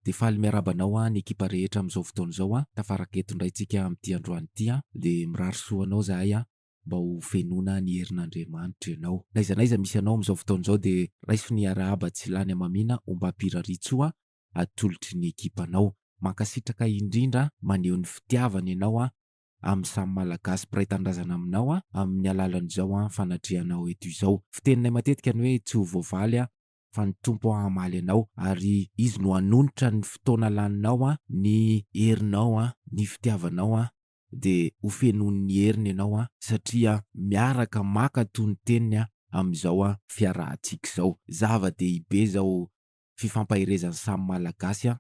De faly miarahaba anao an ny ekipa rehetra amin'izao fotoana izao an! Tafaraka eto indray tsika amin'ity androany ity an! De mirary soa anao zahay an! Mba ho fenoina ny herin'Andriamanitra ianao! Na iza na iza misy anao amin'izao fotoana izao de raiso ny arahaba tsy lany hamamiana ombam-piraritsoa an! Atolotry ny ekipanao! Mankasitraka indrindra an! Maneho ny fitiavana ianao an! Amin'ny samy Malagasy mpiray tanindrazana aminao an! Amin'ny alalan'izao an fanatrehanao eto izao! Fiteninay matetika ny hoe tsy ho voavaly an! fa ny Tompo hamaly anao ary Izy no hanonitra ny fotoana laninao an, ny herinao an, ny fitiavanao an, dia ho fenoin'ny heriny ianao an, satria miaraka maka toy ny teniny an, amin'izao an, fiarahantsika izao. Zava-dehibe izao fifampaherezan'ny samy Malagasy an,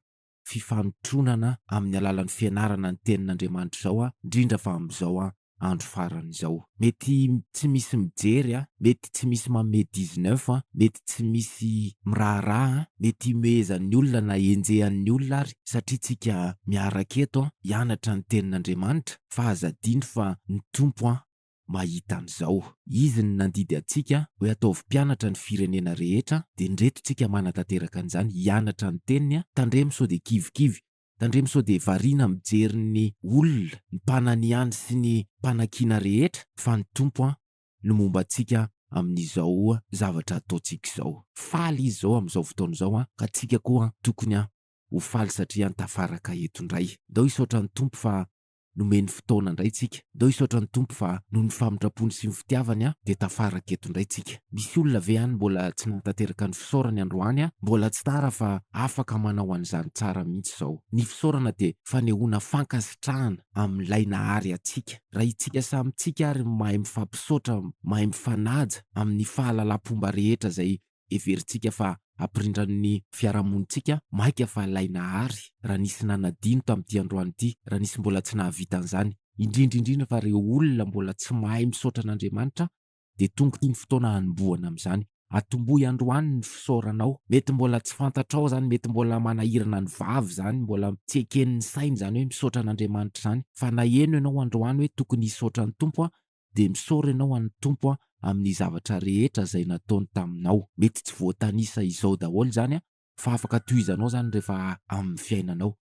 fifanotronana amin'ny alalan'ny fianarana ny tenin'Andriamanitra izao an, indrindra fa amin'izao an andro farany izao. Mety tsy misy mijery an, mety tsy misy manome dix neuf an, mety tsy misy miraharaha an, mety himehezan'ny olona na henjehan'ny olona ary satria tsika miaraka eto an hianatra ny tenin'Andriamanitra fa aza adino fa ny Tompo an mahita an'izao. Izy no nandidy antsika hoe ataovy mpianatra ny firenena rehetra dia indreto tsika manatanteraka an'izany hianatra ny teniny tandremo sao dia kivikivy tandremo sao dia variana mijery ny olona ny mpananihany sy ny mpanakiana rehetra fa ny Tompo no momba antsika amin'izao zavatra ataontsika izao. Faly Izy izao amin'izao fotoana izao ka tsika koa tokony ho faly satria tafaraka eto indray. Ndao hisaotra ny Tompo fa nomeny fotoana indray tsika. Ndao hisaotra ny Tompo fa noho ny famindrampony sy ny fitiavany an dia tafaraka eto indray tsika. Misy olona ve any mbola tsy nahatanteraka ny fisaorany androany an? Mbola tsy tara fa afaka manao an'izany tsara mihitsy izao. Ny fisaorana dia fanehoana fankasitrahana amin'ilay nahary antsika. Raha itsika samy tsika ary mahay mifampisaotra, mahay mifanaja amin'ny fahalalam-pomba rehetra izay Heverintsika fa hampirindran'ny fiarahamonintsika maika fa ilay Nahary, raha nisy nanadino tamin'ity androany ity, raha nisy mbola tsy nahavita an'izany, indrindra indrindra fa ireo olona mbola tsy mahay misaotra an'Andriamanitra, dia tonga ity ny fotoana hanombohana amin'izany. Atombohy androany ny fisaoranao. Mety mbola tsy fantatrao izany, mety mbola manahirana ny vava izany, mbola tsy eken'ny saina izany hoe misaotra an'Andriamanitra izany, fa na heno ianao androany hoe tokony hisaotra ny Tompo aho, dia misaora ianao an'ny Tompo amin'ny zavatra rehetra izay nataony taminao. Mety tsy voatanisa izao daholo izany fa afaka tohizanao izany rehefa amin'ny fiainanao.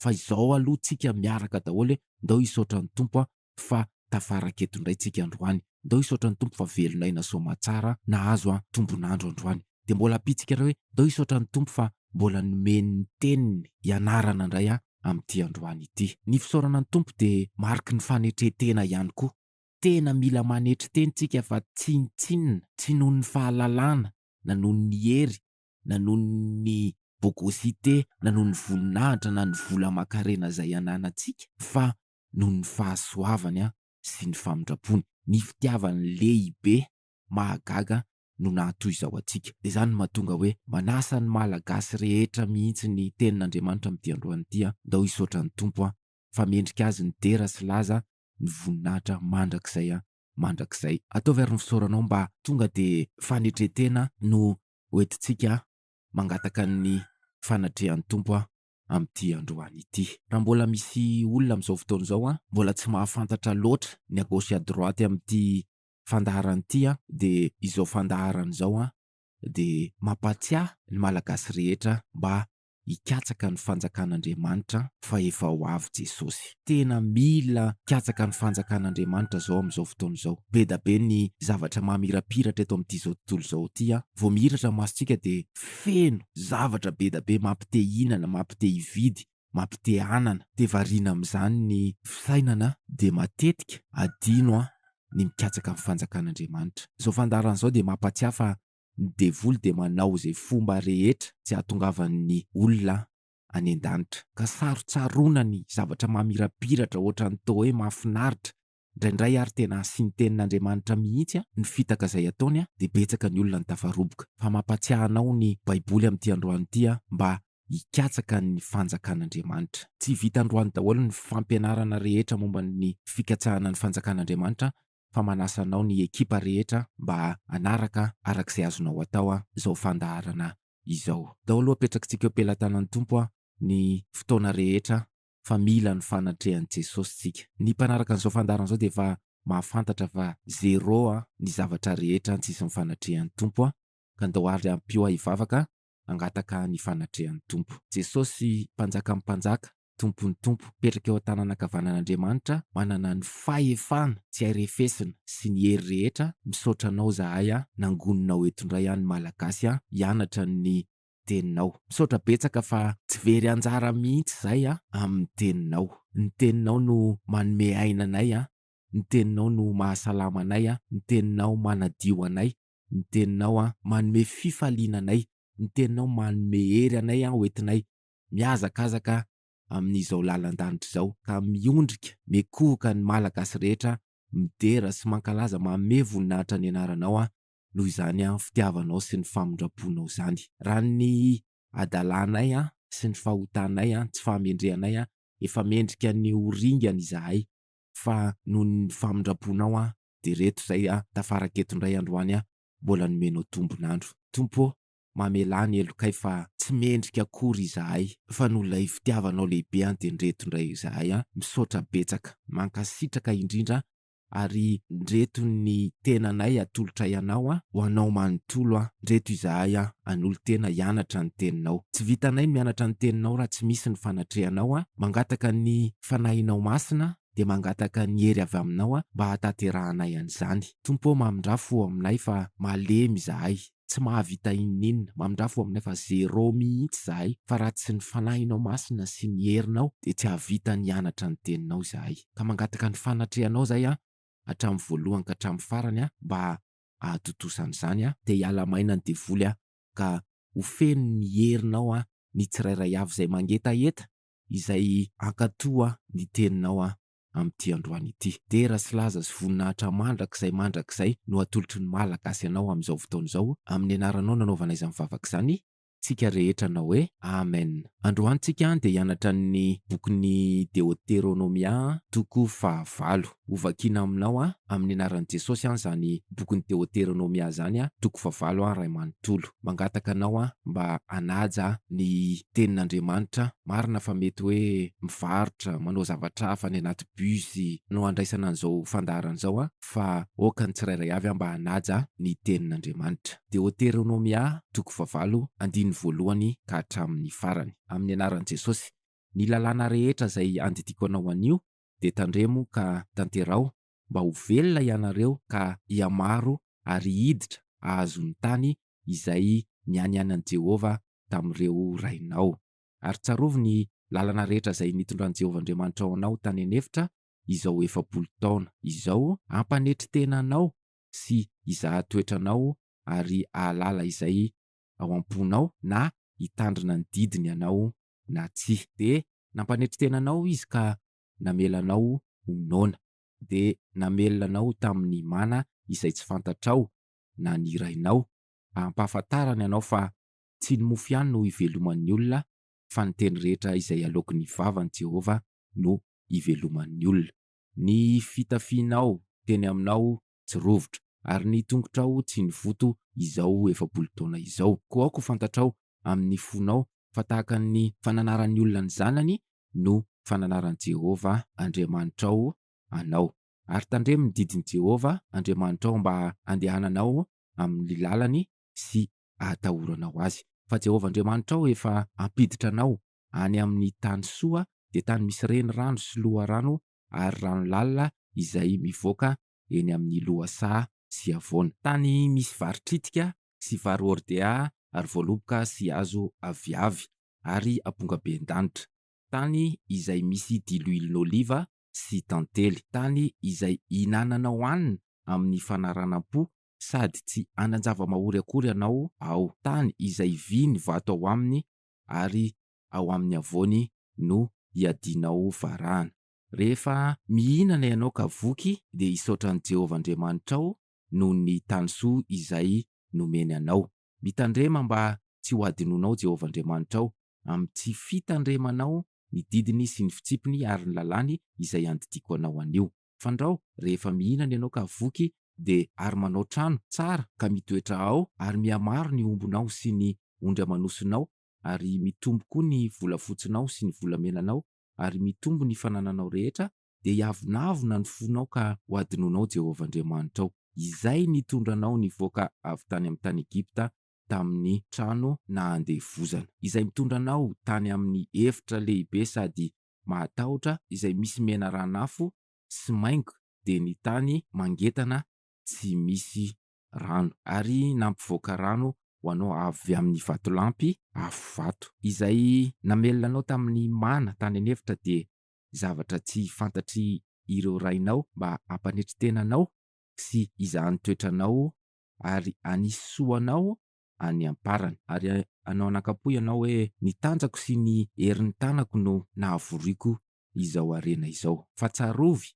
Fa izao aloha tsika miaraka daholo hoe, Ndao hisaotra ny Tompo fa tafaraka eto indray tsika androany. Ndao hisaotra ny Tompo fa velon'aina soamatsara nahazo tombon'andro androany. Dia mbola ampitsika indray hoe, Ndao hisaotra ny Tompo fa mbola nomeny ny teniny hianarana indray aho. amin'ity androany ity. Ny fisaorana ny Tompo dia mariky ny fanetren-tena ihany koa. Tena mila manetry tena isika fa tsinontsinona, tsy noho ny fahalalana, na noho ny hery, na noho ny bogosite, na noho ny voninahitra na ny vola aman-karena izay ananantsika, fa noho ny fahasoavany sy ny famindrampony, ny fitiavany lehibe mahagaga no nahatoy izao antsika. Dia izany no mahatonga hoe manasa ny Malagasy rehetra mihitsy ny Tenin'Andriamanitra amin'ity androany ity aho, ndao hisaotra ny Tompo aho fa mendrika Azy ny dera sy laza ny voninahitra mandrakizay mandrakizay. Ataovy ary ny fisaoranao mba tonga dia fanetren-tena no hoentintsika mangataka ny fanatrehan'ny Tompo aho amin'ity androany ity. Raha mbola misy olona amin'izao fotoana izao mbola tsy mahafantatra loatra ny à gauche et à droite amin'ity fandaharana ity an dia izao fandaharana izao an dia mampatsiahy ny malagasy rehetra mba hikatsaka ny fanjakan'Andriamanitra fa efa ho avy Jesosy. Tena mila mikatsaka ny fanjakan'Andriamanitra izao amin'izao fotoana izao. Bedabe ny zavatra mamirapiratra eto amin'ity izao tontolo izao ity an. Vao mihiratra ny masontsika dia feno zavatra bedabe mampite hihinana, mampite hividy, mampitehanana dia variana amin'izany ny fisainana dia matetika adino ny mikatsaka ny fanjakan'Andriamanitra. Izao fandaharana izao dia mampatsiahy fa ny devoly dia manao izay fomba rehetra tsy hahatongavan'ny olona any an-danitra. Ka sarotsaroana ny zavatra mamirapiratra ohatran'ny toa hoe mahafinaritra Ndraindray ary tena asin'ny tenin'Andriamanitra mihitsy ny fitaka izay ataony dia betsaka ny olona no tafaroboka. Fa mampatsiahy anao ny baiboly amin'ity androany ity mba hikatsaka ny fanjakan'Andriamanitra. Tsy vita androany daholo ny fampianarana rehetra momba ny fikatsahana ny fanjakan'Andriamanitra fa manasa anao ny ekipa rehetra mba hanaraka araka izay azonao atao izao fandaharana izao. Daholo apetrakintsika eo pelatanan'ny Tompo ny fotoana rehetra fa mila ny fanatrehan'i Jesosy tsika. Ny mpanaraka an'izao fandaharana izao dia efa mahafantatra fa zero an ny zavatra rehetra an tsisy ny fanatrehan'ny Tompo an, ka ndao ary ampio ahy hivavaka hangataka ny fanatrehan'ny Tompo. Jesosy Mpanjakan'ny mpanjaka, Tompon'ny tompo, mipetraka eo an-tanana ankavanan'Andriamanitra, manana ny fahefana tsy hay refesina sy ny hery rehetra, misaotra anao zahay an, nangonina ho eto indray an ny Malagasy an hianatra ny teninao. Misaotra betsaka fa tsy very anjara mihitsy izay amin'ny teninao. Ny teninao no manome aina anay, ny teninao no mahasalama anay, ny teninao manadio anay, ny teninao manome fifaliana anay, ny teninao manome hery anay hoentinay mihazakazaka amin'izao lalan-danitra izao ka miondrika miekohoka ny Malagasy rehetra midera sy mankalaza manome voninahitra ny anaranao noho izany an fitiavanao sy ny famindramponao izany. Raha ny adalanay an sy ny fahotanay an tsy fahamendrehanay an efa mendrika ny ho ringana izahay fa noho ny famindramponao an dia reto izay an tafaraka eto indray androany an mbola nomenao tombon'andro. Tompo ô mamelà ny helokay fa tsy mendrika akory izahay fa noho ilay fitiavanao lehibe an dia ndreto indray izahay an misaotra betsaka mankasitraka indrindra Ary ndreto ny tenanay atolotray anao an! ho anao manontolo an! ndreto izahay an! hanolo-tena hianatra ny teninao. Tsy vitanay ny mianatra ny teninao raha tsy misy ny fanatrehanao an! mangataka ny Fanahinao Masina dia mangataka ny hery avy aminao an! mba hahatanterahanay an'izany. Tompo ô mamindrà fo ao aminay fa malemy izahay. Tsy mahavita inon'inona. Mamindrafo aminy fa zéro mihitsy izahay fa raha tsy ny Fanahinao Masina sy ny herinao dia tsy hahavita ny hianatra ny Teninao izahay. Ka mangataka ny fanatrehanao izahay an, hatramin'ny voalohany ka hatramin'ny farany an, mba hahatontosa an'izany an, dia hiala maina ny devoly an, ka ho feno ny herinao an, ny tsirairay avy izay mangetaheta, izay hankatò an, ny Teninao an. amin'ity androany ity. Dera sy laza sy voninahitra mandrakizay mandrakizay no atolotry ny Malagasy anao amin'izao fotoana izao, amin'ny anaranao nanaovana izany vavaka izany, tsika rehetra hanao hoe, Amen. Androany tsika dia hianatra ny bokin'i Deoteronomia toko fahavalo. Ho vakiana aminao amin'ny anaran'i Jesosy an izany bokin'i Deoteronomia izany toko fahavalo an Ray manontolo. Mangataka anao an mba hanaja ny tenin'Andriamanitra marina fa mety hoe mivarotra, manao zavatra hafa any anaty bus no handraisana an'izao fandaharana izao an, fa aoka ny tsirairay avy mba hanaja ny tenin'Andriamanitra. Deoteronomia toko fahavalo andininy voalohany ka hatramin'ny farany. Amin'ny anaran'i Jesosy. Ny lalàna rehetra izay andidiako anao anio dia tandremo ka tanteraho mba ho velona ianareo ka hihamaro ary hiditra hahazo ny tany izay nianianan'i Jehovah tamin'ireo rainao. Ary tsarovy ny lalana rehetra izay nitondran'i Jehovah Andriamanitrao anao tany an'efitra izao efapolo taona izao, hampanetry tena anao sy hizaha toetra anao ary hahalala izay ao am-ponao na hitandrina ny didiny ianao na tsia. Dia nampanetry tena anao izy ka namelanao ho noana. Dia namelona anao tamin'ny mana izay tsy fantatrao na ny rainao, ampahafantarany anao fa tsy ny mofo ihany no iveloman'ny olona fa ny teny rehetra izay aloaky ny vavan'i Jehovah no iveloman'ny olona. Ny fitafianao teny aminao tsy rovitra, ary ny tongotrao tsy nivoto izao efapolo taona izao. Koa aoka ho fantatrao amin' ny fonao fa tahaka ny fananaran' ny olona ny zanany no fananaran'i Jehovah Andriamanitrao anao. Ary tandremo ny didin'i Jehovah Andriamanitrao mba handehananao amin'ny lalany sy hahatahoranao azy. Fa Jehovah Andriamanitrao efa hampiditra anao any amin'ny tany soa, dia tany misy renirano sy loharano ary rano lalina izay mivoaka eny amin'ny lohasaha sy havoana. Tany misy vary tritika sy vary hordea ary voaloboka sy hazo aviavy ary ampongabendanitra. Tany izay misy diloilin'oliva sy tantely. Tany izay ihinananao hanina amin'ny fanaranam-po sady tsy hanan-java-mahory akory ianao ao. Tany izay vy ny vato ao aminy ary ao amin'ny havoany no iadianao varahana. Rehefa mihinana ianao ka voky, dia hisaotra an'i Jehovah Andriamanitrao noho ny tany soa izay nomeny anao. Mitandrema mba tsy hohadinoinao Jehovah Andriamanitrao, amin'ny tsy fitandremanao ny didiny sy ny fitsipiny ary ny lalàny izay andidiako anao anio. Fandrao, rehefa mihinana ianao ka voky, dia ary manao trano tsara ka mitoetra ao, ary mihamaro ny ombinao sy ny ondry aman'osinao, ary mitombo koa ny volafotsinao sy ny volamenanao, ary mitombo ny fanananao rehetra, dia hiavonavona ny fonao ka hohadinoinao Jehovah Andriamanitrao, izay nitondra anao nivoaka avy tany amin'ny tany Egypta tamin'ny trano nandevozana, izay nitondra anao tany amin'ny efitra lehibe sady mahatahotra izay misy menarana afo sy maingo, dia ny tany mangetana tsy misy rano. Ary nampivoaka rano ho anao avy amin'ny vatolampy afo vato. Izay namelona anao tamin'ny mana tany an'efitra dia zavatra tsy fantatry ireo rainao mba hampanetry tena anao sy hizahan'ny toetranao ary hanisy soa anao any am-parany. Ary hanao anakam-po ianao hoe, Ny tanjako sy ny herin'ny tanako no nahavoriako izao harena izao. Fa tsarovy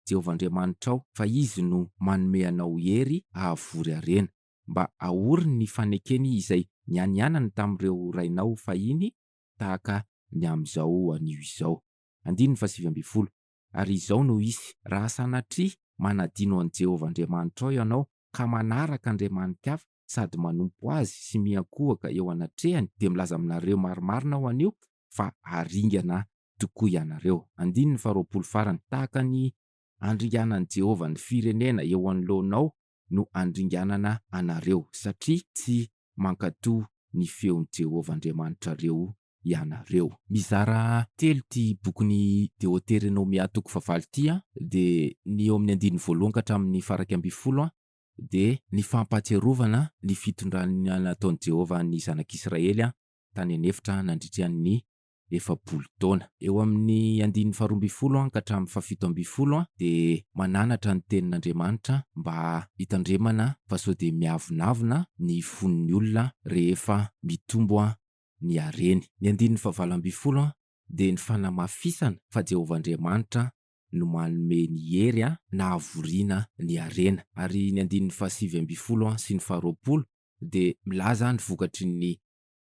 Jehovah Andriamanitrao, fa izy no manome anao hery hahavory harena. Mba ahory ny fanekeny izay nianianany tamin'ireo rainao fahiny tahaka ny amin'izao anio izao. Andininy fahasivy ambin'ny folo, Ary izao no hisy, raha sanatria manadino an'i Jehovah Andriamanitrao ianao, ka manaraka andriamani-kafa sady manompo azy sy miankohoka eo anatrehany, dia milaza aminareo marimarina aho anio fa haringana tokoa ianareo. Andininy faharoapolo farany, Tahaka ny andringanan'i Jehovah ny firenena eo anoloanao no andringanana anareo, satria tsy mankatò ny feon'i Jehovah Andriamanitrareo ianareo. Mizara telo ity bokin'i Deoteronomia toko fahavalo ity, dia ny eo amin'ny andininy voalohany ka hatramin'ny faraika ambinifolo, dia ny fampahatsiarovana ny fitondrana nataon'i Jehovah ny zanak'Israely tany an'efitra nandritra ny efapolo taona. Eo amin'ny andininy faharoa ambin'ny folo ka hatramin'ny fahafito ambin'ny folo dia mananatra ny Tenin'Andriamanitra mba hitandremana fa sao dia miavonavona ny fon'ny olona rehefa mitombo ny hareny. Ny andininy fahavalo ambin'ny folo dia ny fanamafisana fa Jehovah Andriamanitra no manome ny hery nahavoriana ny harena. Ary ny andininy fahasivy ambin'ny folo sy ny faharoapolo dia milaza ny vokatry ny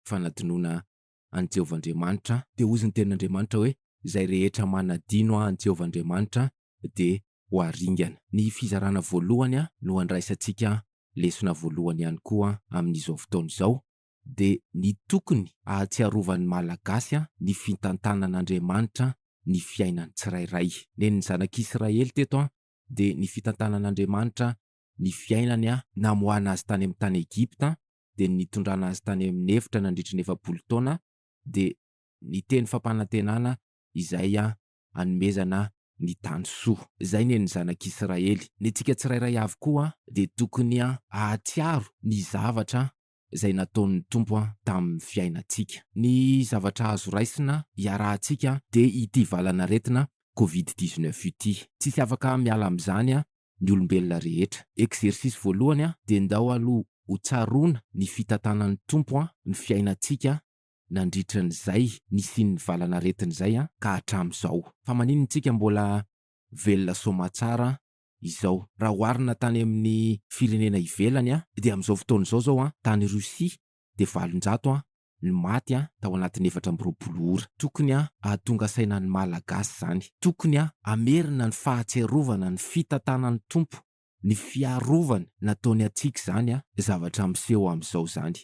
fanadinoana an'i Jehovah Andriamanitra, dia hozy ny tenin'Andriamanitra hoe, Izay rehetra manadino ahy an'i Jehovah Andriamanitra dia ho haringana. Ny fizarana voalohany no handraisantsika lesona voalohany ihany koa amin'izao fotoana izao, dia ny tokony hahatsiarovan'ny Malagasy ny fitantanan'Andriamanitra ny fiainan'ny tsirairay. Nen'ny zanak'Israely teto dia ny fitantanan'Andriamanitra ny fiainany namoahana azy tany amin'ny tany Egypta dia ny nitondrana azy tany amin'ny efitra nandritra ny efapolo taona dia ny teny fampanantenana izay hanomezana ny tany soa. Izay ny an'ny zanak'Israely. Ny antsika tsirairay avy koa dia tokony hahatsiaro ny zavatra izay nataon'ny Tompo tamin'ny fiainantsika. Ny zavatra azo raisina iarahantsika dia ity valan'aretina covid dix-neuf ity. Tsisy afaka miala amin'izany ny olombelona rehetra. Exercice voalohany a, dia ndao aloha ho tsaroana ny fitantanan'ny Tompo a, ny fiainantsika nandritra an'izay nisian'ny valan'aretina izay a, ka hatramin'izao. Fa maninona tsika mbola velona soamatsara izao? Raha oharina tany amin'ny firenena ivelany a, dia amin'izao fotoana izao zao a, tany Russie dia valonjato a, ny maty tao anatin'ny efatra amby roapolo ora. Tokony hahatonga saina ny Malagasy izany. Tokony hamerina ny fahatsiarovana ny fitantanan'ny Tompo, ny fiarovany nataony antsika izany zavatra miseho amin'izao izany.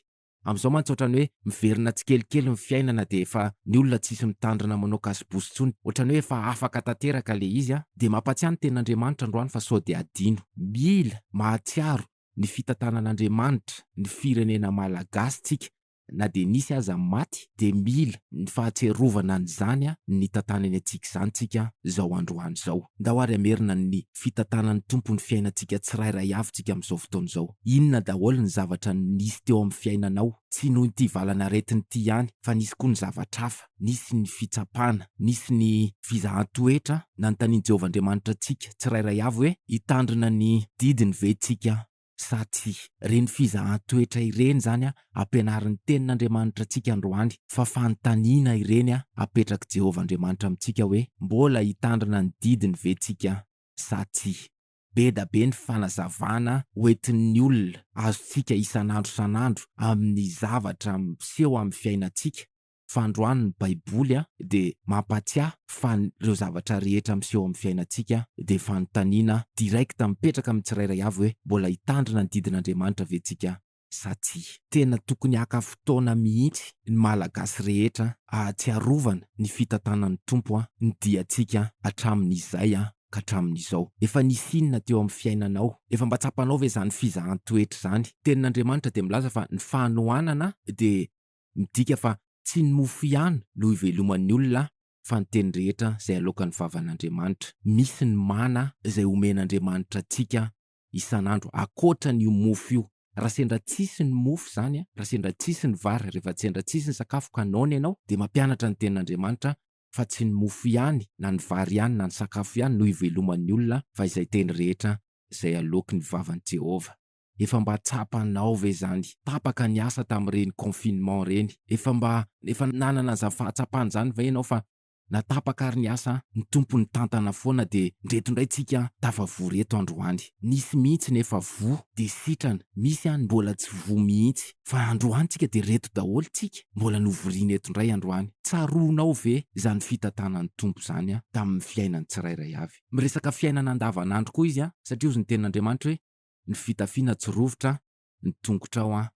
Amin'izao mantsy ohatran'ny hoe miverina tsikelikely ny fiainana dia efa ny olona tsisy mitandrina manao kasibozy intsony. Ohatran'ny hoe efa afaka tanteraka ilay izy dia mampatsiahy ny tenin'Andriamanitra androany fa sao dia adino. Mila mahatsiaro ny fitantanan'Andriamanitra ny firenena Malagasy tsika na dia nisy aza ny maty dia mila ny fahatsiarovana an'izany nitantanany antsika izany tsika zao androany zao. Ndao ary hamerina ny fitantanan'ny Tompo ny fiainantsika tsirairay avy tsika amin'izao fotoana izao. Inona daholo ny zavatra nisy teo amin'ny fiainanao? Tsy noho ity valanaretina ity ihany fa nisy koa ny zavatra hafa. nisy ny fitsapana, nisy ny fizahan-toetra nanontanian'i Jehovah Andriamanitra antsika tsirairay avy hoe, Hitandrina ny didiny ve isika sa tsia? Ireny fizahan-toetra ireny izany ampianarin'ny Tenin'Andriamanitra antsika androany, fa fanontaniana ireny apetrak'i Jehovah Andriamanitra amintsika hoe, Mbola hitandrina ny didiny ve isika sa tsia? Be da be ny fanazavana hoentin'ny olona azontsika isan'andro isan'andro amin'ny zavatra miseho amin'ny fiainantsika, fandroany ny baiboly dia mampatsiahy fa ny ireo zavatra rehetra miseho amin'ny fiainantsika dia fanontaniana direct mipetraka amin'ny tsirairay avy hoe mbola hitandrina ny didin'Andriamanitra ve tsika sa tsia. Tena tokony haka fotoana mihitsy ny malagasy rehetra ahatsiarovana ny fitantanan'ny Tompo ny diantsika hatramin'izay ka hatramin'izao. Efa nisy inona teo amin'ny fiainanao? Efa mba tsapanao ve izany fizahan-toetra izany? Tenin'Andriamanitra dia milaza fa ny fanohanana dia. Midika fa tsy ny mofo ihany no hiveloman'ny olona fa ny teny rehetra izay aloakan'ny vavan'Andriamanitra. Misy ny mana izay omen'Andriamanitra antsika isan'andro ankoatran'io mofo io. Raha sendra tsisy ny mofo izany, raha sendra tsisy ny vary, rehefa sendra tsisy ny sakafo ka noana ianao dia mampianatra ny tenin'Andriamanitra fa tsy ny mofo ihany na ny vary ihany na ny sakafo ihany no hiveloman'ny olona fa izay teny rehetra izay aloaky ny vavan'i Jehovah. efa mba tsapanao ve zany tapaka ny asa tamin'ireny confinement reny? Efa mba efa nanana za fahatsapana zany ve enao fa na tapaka ary ny asa ny Tompo nitantana foana de ndreto ndray tsika tafavory eto androany. Nisy mihitsy ny efa voa de sitrana, misy any mbola tsy voa mihitsy fa androany tsika de reto daholo tsika mbola novoriana eto ndray androany. Tsaroanao ve zany fitantanan'ny Tompo zany tamin'ny fiainan'ny tsirairay avy? Miresaka fiainana andavanandro koa izy satria ozy niteny Andriamanitra hoe ny fitafiana tsy rovitra ny tongotrao an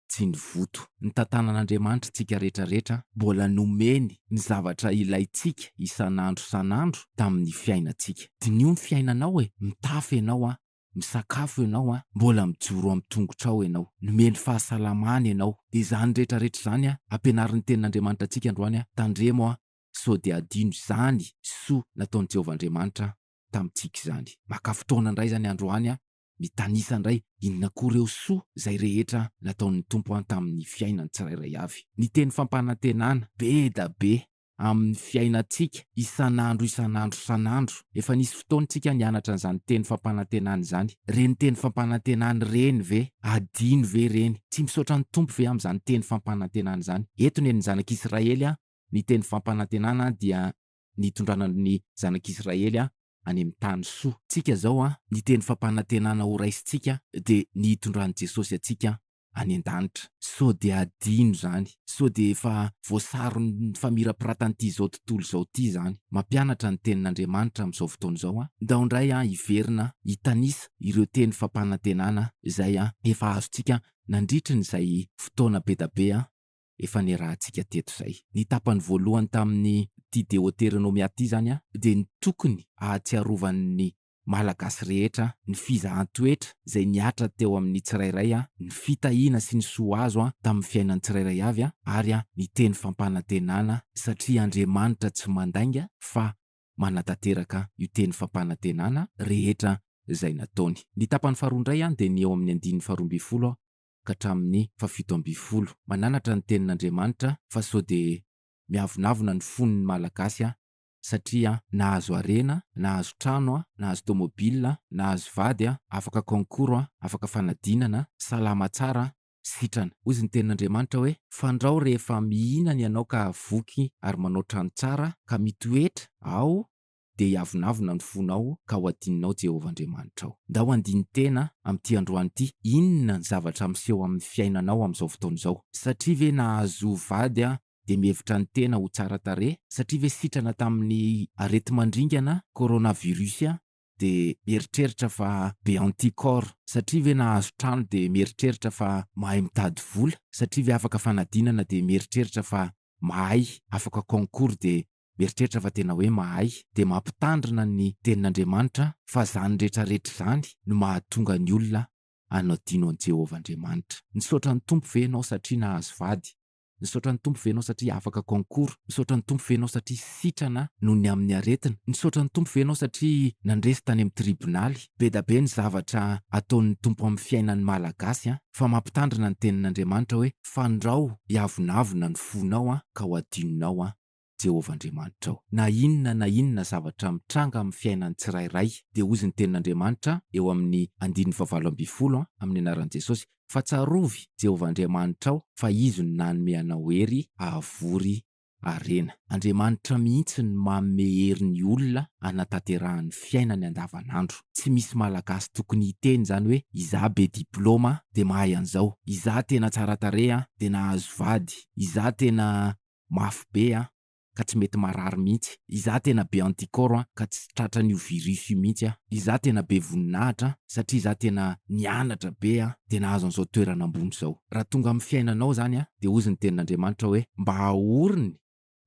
tsy ny voto. Ny tantanan'Andriamanitra tsika rehetra rehetra mbola nomeny ny zavatra ilaintsika isan'andro isan'andro tamin'ny fiainantsika. Diniho ny fiainanao e! Mitafy ianao an! Misakafo ianao an! Mbola mijoro amin'ny tongotrao ianao! Nomeny fahasalamana ianao! Dia izany rehetra rehetra izany an! Ampianarin'ny tenin'Andriamanitra antsika androany an! Tandremo an! Sao dia adino izany soa nataon'i Jehovah Andriamanitra tamintsika izany. Maka fotoana indray izany androany aho mitanisa indray inona koa ireo soa izay rehetra nataon'ny Tompo an tamin'ny fiainan'ny tsirairay avy. Ny teny fampanantenana be da be amin'ny fiainantsika isan'andro isan'andro isan'andro. Efa nisy fotoana tsika nianatra an'izany teny fampanantenana izany. Ireny teny fampanantenana ireny ve adino ve ireny? Tsy misaotra ny Tompo ve amin'izany teny fampanantenana izany? Eto ny an'ny zanak'Israely an, ny teny fampanantenana dia ny hitondrana ny zanak'Israely any amin'ny tany soa. Tsika zao an, ny teny fampanantenana ho raisintsika dia ny hitondran'i Jesosy antsika any an-danitra. Sao dia adino zany? Sao dia efa voasaron'ny famirapiratan'ity zao tontolo zao ity zany? Mampianatra ny tenin'Andriamanitra amin'izao fotoana izao an, ndao indray an hiverina hitanisa ireo teny fampanantenana izay efa azontsika nandritrin'izay fotoana bedabe an. efa niarahantsika teto izay. Ny tapany voalohany tamin'ity Deoteronomia ity izany dia ny tokony hahatsiarovan'ny Malagasy rehetra ny fizahan-toetra izay nihatra teo amin'ny tsirairay, ny fitahiana sy ny soa azo tamin'ny fiainan'ny tsirairay avy ary ny teny fampanantenana satria Andriamanitra tsy mandainga fa manatanteraka io teny fampanantenana rehetra izay nataony. Ny tapany faharoa indray dia ny eo amin'ny andininy faharoa ambin'ny folo ka hatramin'ny fahafito ambin'ny folo. Mananatra ny tenin'Andriamanitra fa sao dia miavonavona ny fon'ny Malagasy an! satria nahazo harena, nahazo trano, nahazo tomobilina, nahazo vady, afaka concours, afaka fanadinana, salama tsara, sitrana. Hozy ny tenin'Andriamanitra hoe, Fandrao rehefa mihinana ianao ka voky ary manao trano tsara ka mitoetra ao dia hiavonavona ny fonao ka ho adinonao Jehovah Andriamanitrao. Ndao handini-tena amin'ity androany ity, inona ny zavatra miseho amin'ny fiainanao amin'izao fotoana izao? Satria ve nahazo vady aho dia mihevitra ny tena ho tsara tarehy? Satria ve sitrana tamin'ny areti-mandringana, coronavirus, aho dia mieritreritra fa be anticorps? Satria ve nahazo trano dia mieritreritra fa mahay mitady vola? Satria ve afaka fanadinana dia mieritreritra fa mahay, afaka concours dia Mieritreritra fa tena hoe mahay dia mampitandrina ny Tenin'Andriamanitra fa izany rehetra rehetra izany no mahatonga ny olona hanadino an'i Jehovah Andriamanitra. Nisaotra ny Tompo ve ianao satria nahazo vady? Nisaotra ny Tompo ve ianao satria afaka concours? Nisaotra ny Tompo ve ianao satria sitrana noho ny amin'ny aretina? Nisaotra ny Tompo ve ianao satria nandresy tany amin'ny tribonaly? Bedabe ny zavatra ataon'ny Tompo amin'ny fiainan'ny Malagasy an! Fa mampitandrina ny Tenin'Andriamanitra hoe, Fandrao hiavonavona ny fonao an, ka ho adinonao an! Jehovah Andriamanitrao. Na inona na inona zavatra mitranga amin'ny fiainan'ny tsirairay, dia hozy ny Tenin'Andriamanitra eo amin'ny andininy fahavalo ambin'ny folo amin'ny anaran'i Jesosy, Fa tsarovy Jehovah Andriamanitrao fa izy no nanome anao hery hahavory harena. Andriamanitra mihitsy no manome hery ny olona hanatanterahany fiainany andavanandro. Tsy misy Malagasy tokony hiteny izany hoe izaho be diplaoma dia mahay an'izao, izaho tena tsara tarehy dia nahazo vady, izaho tena mafy be an, ka tsy mety marary mihitsy, izaho tena be anticorps an, ka tsy tratran'io virus io mihitsy an, izaho tena be voninahitra an, satria izaho tena nianatra be an, dia nahazo an'izao toerana ambony izao. Raha tonga amin'ny fiainanao izany an, dia hozy ny tenin'Andriamanitra hoe, mba ahoriny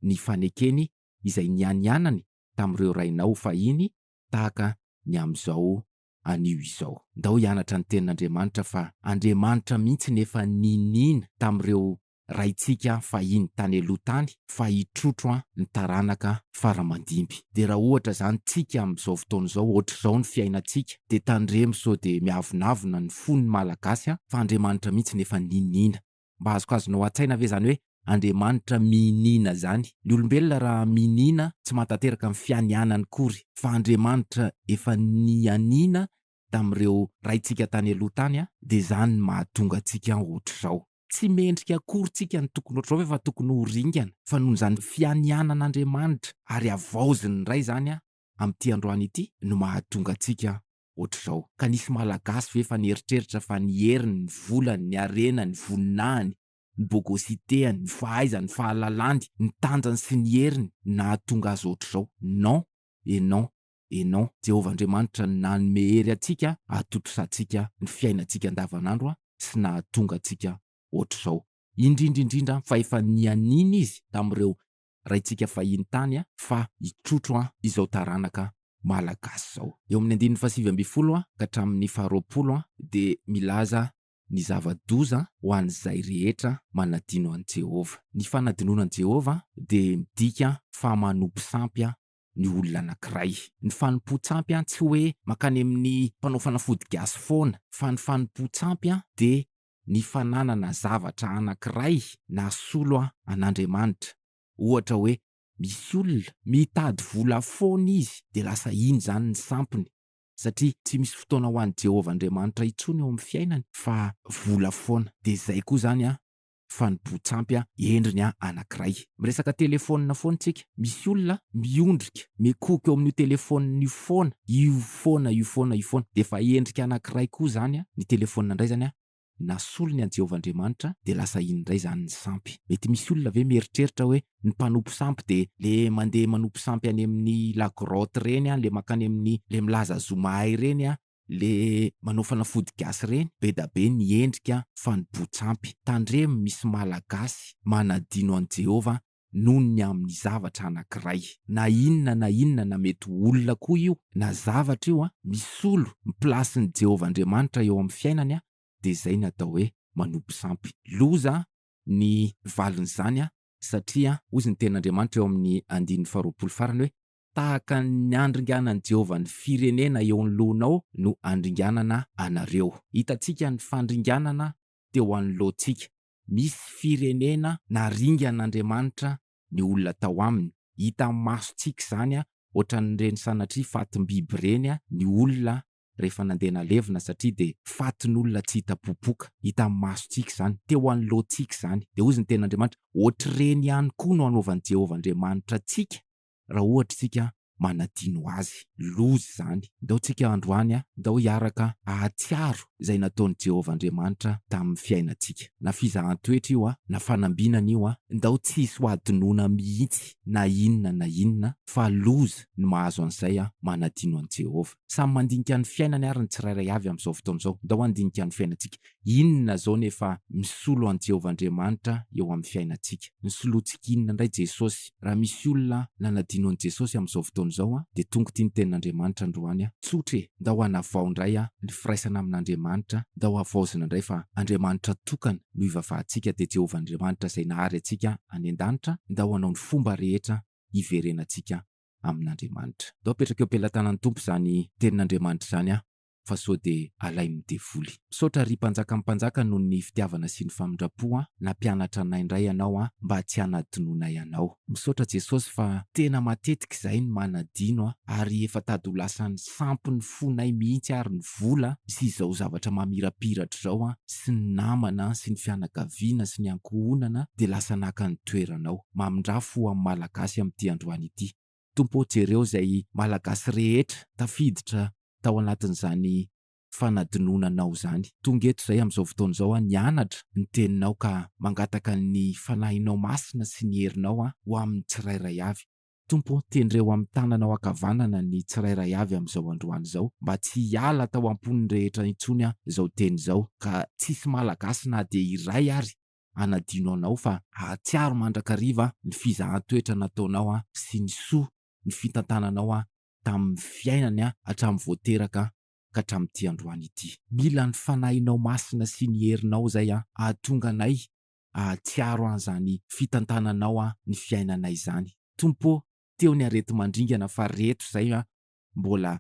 ny fanekeny izay nianianany tamin'ireo rainao fahiny tahaka ny amin'izao anio izao. Ndao hianatra ny tenin'Andriamanitra fa Andriamanitra mihitsy nefa niniana tamin'ireo raintsika fahiny tany aloha tany fa hitrotro an ny taranaka fara mandimby de raha ohatra zany tsika amin zao fotoana zao ohatrizao ny fiainantsika de tandremo sao de miavonavona ny fo ny malagasy an fa Andriamanitra mihitsy efa niniana mba azokazonao atsaina ve zany hoe Andriamanitra miniana zany ny olombelona raha miniana tsy mahatanteraka ny fianianany kory fa Andriamanitra efa nianiana tamin'ireo raintsika tany aloha tany an de zany ny mahatonga antsika ohatrizao. Tsy mendrika akory tsika ny tokony ohatr'izao ve fa tokony ho ringana fa noho izany fianianan'Andriamanitra ary havaoziny indray izany amin'ity androany ity no mahatonga antsika ohatr'izao. Ka nisy Malagasy ve efa nieritreritra fa ny heriny, ny volany, ny harenany, ny voninahiny, ny bogositeany, ny fahaizany, ny fahalalany, ny tanjany sy ny heriny nahatonga azy ohatr'izao? Non et non! Enon. Jehovah Andriamanitra no nanome hery antsika hahatontosantsika ny fiainantsika andavanandro sy nahatonga antsika hoatr'izao. Indrindra indrindra fa efa nianiana izy tamin'ireo raintsika fahiny tany fa hitrotro izao taranaka malagasy izao. Eo amin'ny andininy fahasivy ambin'ny folo ka hatramin'ny faharoapolo dia milaza ny zava-doza ho an'izay rehetra manadino an'i Jehovah. Ny fanadinoana an'i Jehovah dia midika fa manopy sampy ny olona anankiray. Ny fanompoan-tsampy an tsy hoe mankany amin'ny mpanao fanafody gasy foana fa ny fanompoan-tsampy an dia ny fananana zavatra anankiray nahasolo an an'Andriamanitra. Ohatra hoe misy olona mitady vola foana izy dia lasa iny izany ny sampiny satria tsy misy fotoana ho an'i Jehovah Andriamanitra intsony eo amin'ny fiainany fa vola foana. Dia izay koa izany an fanompoan-tsampy endriny anankiray. Miresaka telefaonina foana isika, misy olona miondrika, mikohoka eo amin'io telefaonina io foana, io foana, io foana, io foana. Dia efa endrika anankiray koa izany ny telefaonina indray izany, na solony an'i Jehovah Andriamanitra, dia lasa iny indray izany ny sampy. Mety misy olona ve mieritreritra hoe ny mpanompo sampy dia ilay mandeha manompo sampy any amin'ny la grotte ireny, ilay mankany amin'ny, ilay milaza zo mahay ireny, Le manao fanafody gasy reny bedabe ny endrika fanibotsampy. Tandremo misy malagasy manadino an'i Jehovah noho ny amin'ny zavatra anankiray. Na inona na inona na mety ho olona koa io na zavatra io misolo ny plasin'i Jehovah Andriamanitra eo amin'ny fiainany dia izay ny atao hoe manopy sampy. Loza ny valin'izany satria hoy izy ny tenin'Andriamanitra eo amin'ny andininy faharoapolo farany hoe Tahaka ny andringanan'i Jehovah ny firenena eo anoloanao no andringanana anareo. Hitantsika ny fandringanana teo anoloantsika. Misy firenena naringan'Andriamanitra ny olona tao aminy. Hitan'ny masontsika izany, hoatran'ireny sanatria fatim-biby ireny ny olona rehefa nandeha nalevina, satria dia fatin'olona tsy hita popoka. Hitan'ny masontsika izany. Teo anoloantsika izany. Dia hoy ny Tenin'Andriamanitra, Hoatr'ireny ihany koa no hanaovan'i Jehovah Andriamanitra antsika, raha ohatra isika manadino azy. Loza izany. Ndao tsika androany a, ndao hiaraka hahatsiaro izay nataon'i Jehovah Andriamanitra tamin'ny fiainantsika. Na fizahan-toetra io a, na fanambinana io a, ndao tsy hisy ho hadinoina mihitsy na inona na inona, fa loza ny mahazo an'izay manadino an'i Jehovah. Samy mandinika ny fiainany àry ny tsirairay avy amin'izao fotoana izao. Ndao handinika ny fiainantsika. Inona izao no efa misolo an'i Jehovah Andriamanitra eo amin'ny fiainantsika? Nisoloantsika inona indray Jesosy? Raha misy olona nanadino an'i Jesosy amin'izao fotoana izao, dia tonga ity ny tenin'Andriamanitra androany, Tsotra e! Ndao hanavao indray ny firaisana amin'Andriamanitra, ndao havaozina indray fa Andriamanitra tokana no ivavahantsika, dia Jehovah Andriamanitra izay nahary antsika any an-danitra, ndao hanao ny fomba rehetra hiverenantsika amin'Andriamanitra. Ndao apetraka eo am-pelatanan'ny Tompo izany tenin'Andriamanitra izany. fa sao de alain'ny devoly. Misaotra ry mpanjakan'ny mpanjaka noho ny fitiavana sy ny famindrampo an! Nampianatra anay indray ianao an! Mba tsy hanadinoanay anao. Misaotra Jesosy fa tena matetika izahay no manadino an! Ary efa tady ho lasan'ny sampy ny fonay mihitsy ary ny vola sy izao zavatra mamirapiratra izao an! Sy ny namana an! Sy ny fianakaviana sy ny ankohonana dia lasa naka ny toerana ao! Mamindrà fo amin'ny Malagasy amin'ity androany ity! Tompo ô jereo izay Malagasy rehetra tafiditra tao anatin'izany fanadinonanao izany. Tonga eto izay amin'izao fotoana izao aho nianatra ny teninao ka mangataka ny Fanahinao Masina sy ny herinao aho ho amin'ny tsirairay avy. Tompo ô tendreo amin'ny tananao ankavanana ny tsirairay avy amin'izao androany izao mba tsy hiala tao am-pon'ny rehetra intsony aho izao teny izao ka tsisy Malagasy na dia iray ary hanadino anao fa hahatsiaro mandrakariva ny fizahan-toetra nataonao sy ny soa ny fitantananao tamin'ny fiainany hatramin'ny vao teraka ka hatramin'ity androany ity. Mila ny Fanahinao Masina sy ny herinao izay hahatonga anay hahatsiaro an'izany fitantananao ny fiainanay izany. Tompo ô, teo ny areti-mandringana fa reto izay mbola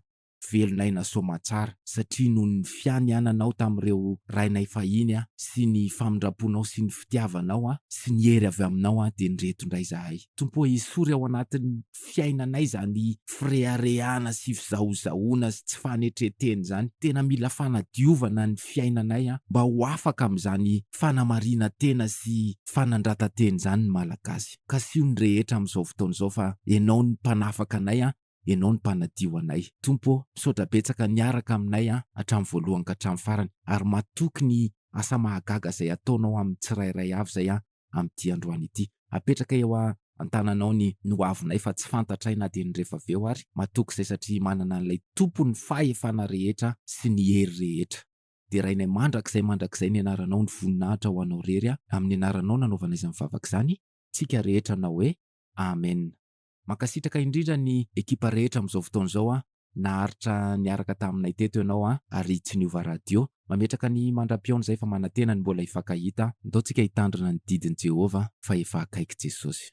Velon'aina Soamatsara, satria noho ny fianiananao tamin'ireo rainay fahiny aho sy ny famindramponao sy ny fitiavanao aho sy ny hery avy aminao aho dia nireto indray izahay. Tompo ô, esory ao anatin'ny fiainanay izany fireharehana sy fizahozahoana sy tsy fanetren-tena izany. Tena mila fanadiovana ny fiainanay an, mba ho afaka amin'izany fanamarinan-tena sy fanandratan-tena izany ny Malagasy. Kasiho ny rehetra amin'izao fotoana izao fa Ianao no mpanafaka anay an, Ianao no mpanadio anay. Tompo ô, misaotra betsaka niaraka aminay an, hatramin'ny voalohany ka hatramin'ny farany, ary matoky ny asa mahagaga izay ataonao amin'ny tsirairay avy izay an, amin'ity androany ity. Apetraka eo a, an-tananao ny ny ho avinay fa tsy fantatray na dia ny rehefa avy eo ary. Matoky izay satria manana an'ilay Tompo ny fahefana rehetra sy ny hery rehetra. Derainay mandrakizay mandrakizay ny anaranao ny voninahitra ho anao rery a, amin'ny anaranao nanaovana izany vavaka izany tsika rehetra nanao hoe Amen. Mankasitraka indrindra ny ekipa rehetra amin'izao fotoana izao an! Naharitra niaraka taminay teto ianao an! Ary tsy niova radio! Mametraka ny mandra-pihaona izay fa manantena ny mbola hifankahita an! Ndao tsika hitandrina ny didin'i Jehovah fa efa akaiky Jesosy!